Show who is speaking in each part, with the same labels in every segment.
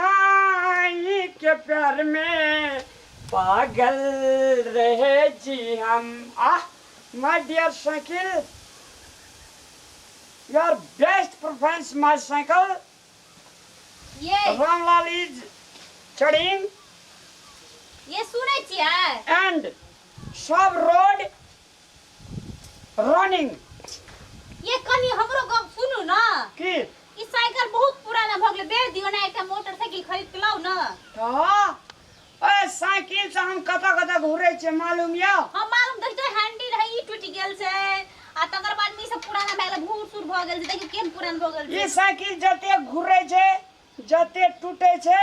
Speaker 1: सजनाई के प्यार में पागल रहे जी हम आ my dear cycle your best performance my cycle ये रामलाल इज चढ़िंग
Speaker 2: ये सुनै छियै एंड
Speaker 1: सब रोड रनिंग ये
Speaker 2: कनी हमरो गप सुनू ना की ई
Speaker 1: साइकिल
Speaker 2: बहुत पुराना भ गेलै बेच दियो ना एकटा मोटरसाइकिल खरीद के लाओ ना हाँ
Speaker 1: ओए साइकिल से हम कतऽ कतऽ घूरे छे मालूम यऽ हम मालूम देखि तो
Speaker 2: हैंडी रहे ई टूटि गेल छै आ तकर बाद में ई सब पुराना भए गेलै भूर सूर भऽ गेल छै देखियो केहन पुरान भऽ गेल ये छै साइकिल जते
Speaker 1: घूरे छे जते टूटे छे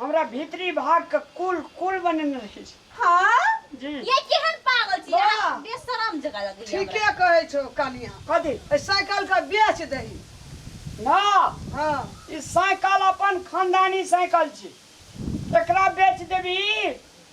Speaker 1: हमरा भीतरी भाग के कुल कुल बनेने रहे छै हाँ जी
Speaker 2: ये केहन
Speaker 1: पागल
Speaker 2: छी वाह। अहाँ बेशरम
Speaker 3: जगह
Speaker 2: लगैया हमरा। ठीके कहै छौ
Speaker 3: कनिया कथी एहि साइकिल
Speaker 1: के
Speaker 3: बेच दही ना
Speaker 1: हाँ
Speaker 3: ई साइकिल
Speaker 1: अपन खानदानी साइकिल छी एकरा बेच देबी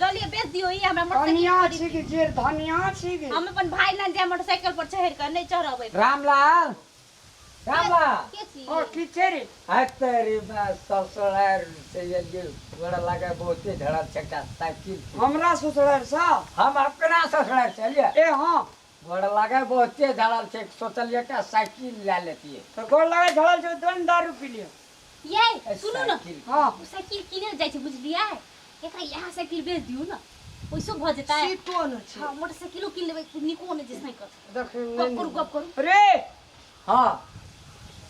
Speaker 2: जलिए बेच दियो ई हमरा मोटरसाइकिल कनिया छी कि जे धनिया
Speaker 1: छी कि हम अपन भाई लग जाय
Speaker 2: मोटरसाइकिल पर चढ़ के नहीं चढ़बै रामलाल
Speaker 4: रामलाल
Speaker 2: के छी ओ की छै रे
Speaker 1: हाय तेरी मैं
Speaker 4: ससुरार से ये बड़ा लगा बहुते धड़ा चक्का साइकिल हमरा ससुरार
Speaker 1: से हम अपना
Speaker 4: ससुरार से अलिए ए हां
Speaker 1: गोड़ लागै
Speaker 4: बहुते झड़ल छै सोचलियै एकटा साइकिल लए लेतियै तऽ गोड़ लागै झड़ल छै
Speaker 1: दोन दारू पी लिअ यै ए, सुनू
Speaker 2: ने साइकिल। हँ ओ साइकिल
Speaker 4: किने
Speaker 1: लए जाइ
Speaker 2: छै बुझलियै एकरा इएह साइकिल बेच दियौ ने ओइसो भऽ जेतै सीटो नहि छै हँ
Speaker 3: मोटरसाइकिलो किन लेबै
Speaker 2: नीको नहि छै साइकिल देखियौ गप करू गप
Speaker 3: करू रे
Speaker 4: हँ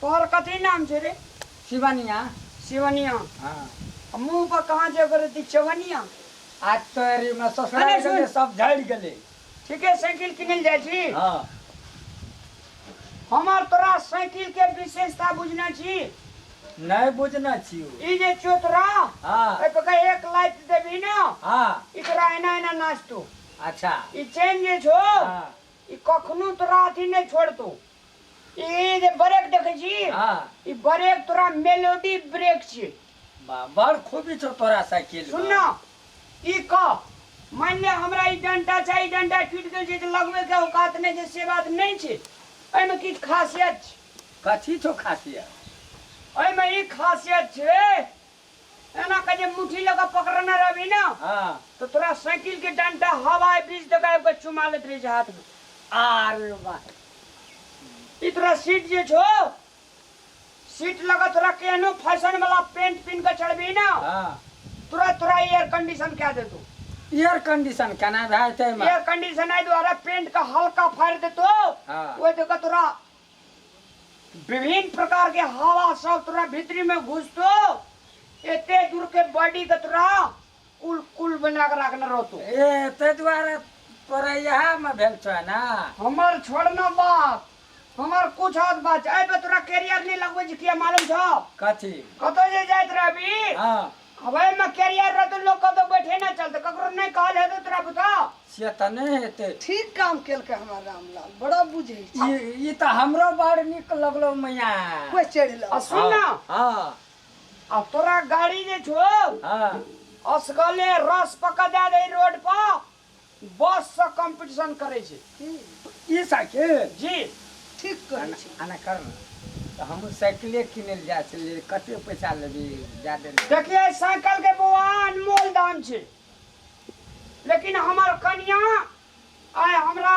Speaker 1: तोहर कथी नाम छै रे शिवनिया
Speaker 4: शिवनिया
Speaker 1: हँ
Speaker 4: मुँह पर कहाँ छै
Speaker 1: ओकर एते चवनिया आ तोरी
Speaker 4: हमरा ससुराल अरे सुन। गेलै सब झड़ि
Speaker 1: गेलै
Speaker 4: ठीके साइकिल
Speaker 1: किनल जाइ छी हँ
Speaker 4: हमर
Speaker 1: तोरा साइकिल के विशेषता बुझना छी नहि
Speaker 4: बुझने छियौ ई जे चोतरा
Speaker 1: हँ ओहि पर
Speaker 4: कहीं एक लाइट
Speaker 1: देबी ना हँ ई तोरा
Speaker 4: एना एना
Speaker 1: नाचतो अच्छा ई
Speaker 4: चेन जे
Speaker 1: छो हँ ई
Speaker 4: कखनो
Speaker 1: तोरा अथी नहि छोड़तो ई जे ब्रेक देखै छी हाँ ई ब्रेक
Speaker 4: तोरा
Speaker 1: मेलोडी ब्रेक छियै बा बड़
Speaker 4: खूबी छौ तोरा साइकिल सुन न
Speaker 1: ई कह मानि ले हमरा ई डंटा छै ई डंटा टूटि गेल छै तऽ लगबे के औकात नहि छै से बात नहि छै एहिमे किछु खासियत छै कथी छौ
Speaker 4: खासियत एहिमे
Speaker 1: ई खासियत छै एना कऽ जे मुट्ठी लऽ कऽ पकड़ने रहबही ने हँ तऽ तोरा
Speaker 4: साइकिल
Speaker 1: के डंटा हवाई बीच दऽ कऽ आबि कऽ चुमा लैत रहै छै हाथ मे आर
Speaker 4: बात
Speaker 1: ई तोरा सीट जे छौ सीट लऽ कऽ तोरा केहनो फैशन वाला पेंट पिन्ह कऽ चढ़बही ने हँ तुरंत
Speaker 4: तोरा एयर
Speaker 1: कंडीशन कए देतौ एयर कंडीशन
Speaker 4: केना भए जेतै एहिमे एयर कंडीशन एहि दुआरे
Speaker 1: पेंट के हल्का फाड़ि देतौ हँ। ओहि दऽ कऽ
Speaker 4: तोरा
Speaker 1: विभिन्न प्रकार के हवा सब तोरा भीतरी में घुसतो एते दूर के बॉडी के तोरा कुल कुल बना के रखने रहतो ए ते द्वारा
Speaker 4: तोरा यहाँ में भेल छो ना हमर छोड़ना
Speaker 1: बात हमर कुछ हाथ बात ए पे तोरा कैरियर नहीं लगवे जे किया मालूम छो कथी कतो
Speaker 4: जे जाइत
Speaker 1: रहबी हाँ अब ए
Speaker 4: में कैरियर
Speaker 1: रहतो लोग कतो बैठे ना चलतो ककरो नहीं कहल है तो तोरा बुता से त नै
Speaker 4: हेतै ठीक काम केलकै
Speaker 3: हमर रामलाल बड़ा बुझै छै ई ई त हमरो
Speaker 4: बड़ नीक लगलो मैया कोइ चढ़ि लग आ
Speaker 3: सुन ना
Speaker 1: हां
Speaker 4: आ तोरा
Speaker 1: गाड़ी जे छो हां
Speaker 4: असगले
Speaker 1: रस पका दे दे रोड पर बस से कंपटीशन करे छे ई
Speaker 4: साइकिल जी
Speaker 1: ठीक कहै
Speaker 3: छी आना कर ना
Speaker 4: तो हम साइकिले किने ले जाए छे कते पैसा लेबी दे दे देखिए साइकिल के
Speaker 1: बौआ अनमोल दाम छे लेकिन हमर कन्या आय हमरा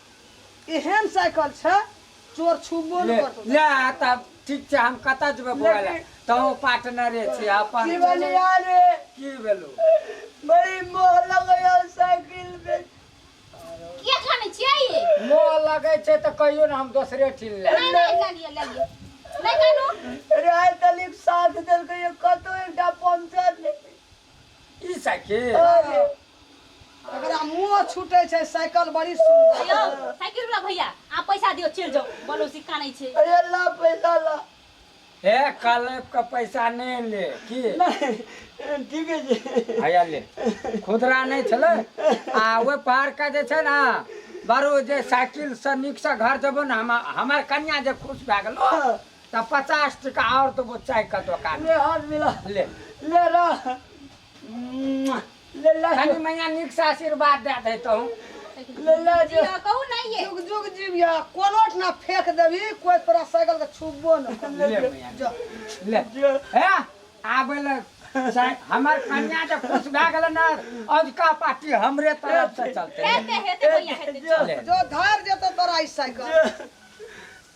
Speaker 3: एहन साइकिल छै चोर छुबो ले नहि करतौ ले तब ठीक
Speaker 4: छै हम कतऽ जेबै बौआ ले लेकिन- तहूँ पार्टनरे छी अपन की बलिया रे
Speaker 1: की भेलौ
Speaker 4: बड़ी
Speaker 1: मोह लगैया साइकिल में किया
Speaker 2: खाने छियै ये मोह लगै छै
Speaker 4: तऽ कहियो ने हम दोसरे ठिन ले नहीं नहीं ले लियो ले लियो
Speaker 2: नहीं कानू राय तलिक
Speaker 1: साथ देलकै कतौ एकटा पंचर नहि ई
Speaker 4: साइकिल अरे
Speaker 1: एकरा
Speaker 3: मुंह छूटे छै साइकिल बड़ी हेलो सुंदर साइकिल वाला
Speaker 2: भैया आप पैसा दियो चल जाओ बोलो सिक्का नहीं छे अरे ला
Speaker 1: पैसा ला हे
Speaker 4: कलेप के पैसा नहीं ले की नहीं
Speaker 1: ठीक है जी हैया ले
Speaker 4: खुदरा नहीं छले आ ओहि पार के जे छै ने बारू जे साइकिल से नीक से घर जेबो ने हम हमार कन्या जे खुश भए गेलो तऽ पचास टका आओर देबो चायके दोकान ले हर मिला ले
Speaker 1: ले रह ले ले कनी मैया नीक से
Speaker 4: आशीर्वाद दे दे तो ले ले
Speaker 1: जो कहू नहीं ये जुग
Speaker 2: जुग जीविया
Speaker 3: कोनो ठना फेंक देबी कोई तोरा साइकिल के छुबो न ले मैया जो
Speaker 4: ले हे आबे ले हमर कन्या जे खुश भए गेल ने अजका पार्टी हमरे तरफ से चलते हेते हेते भैया हेते
Speaker 2: जो जो धार जेतो
Speaker 4: तोरा
Speaker 3: ई साइकिल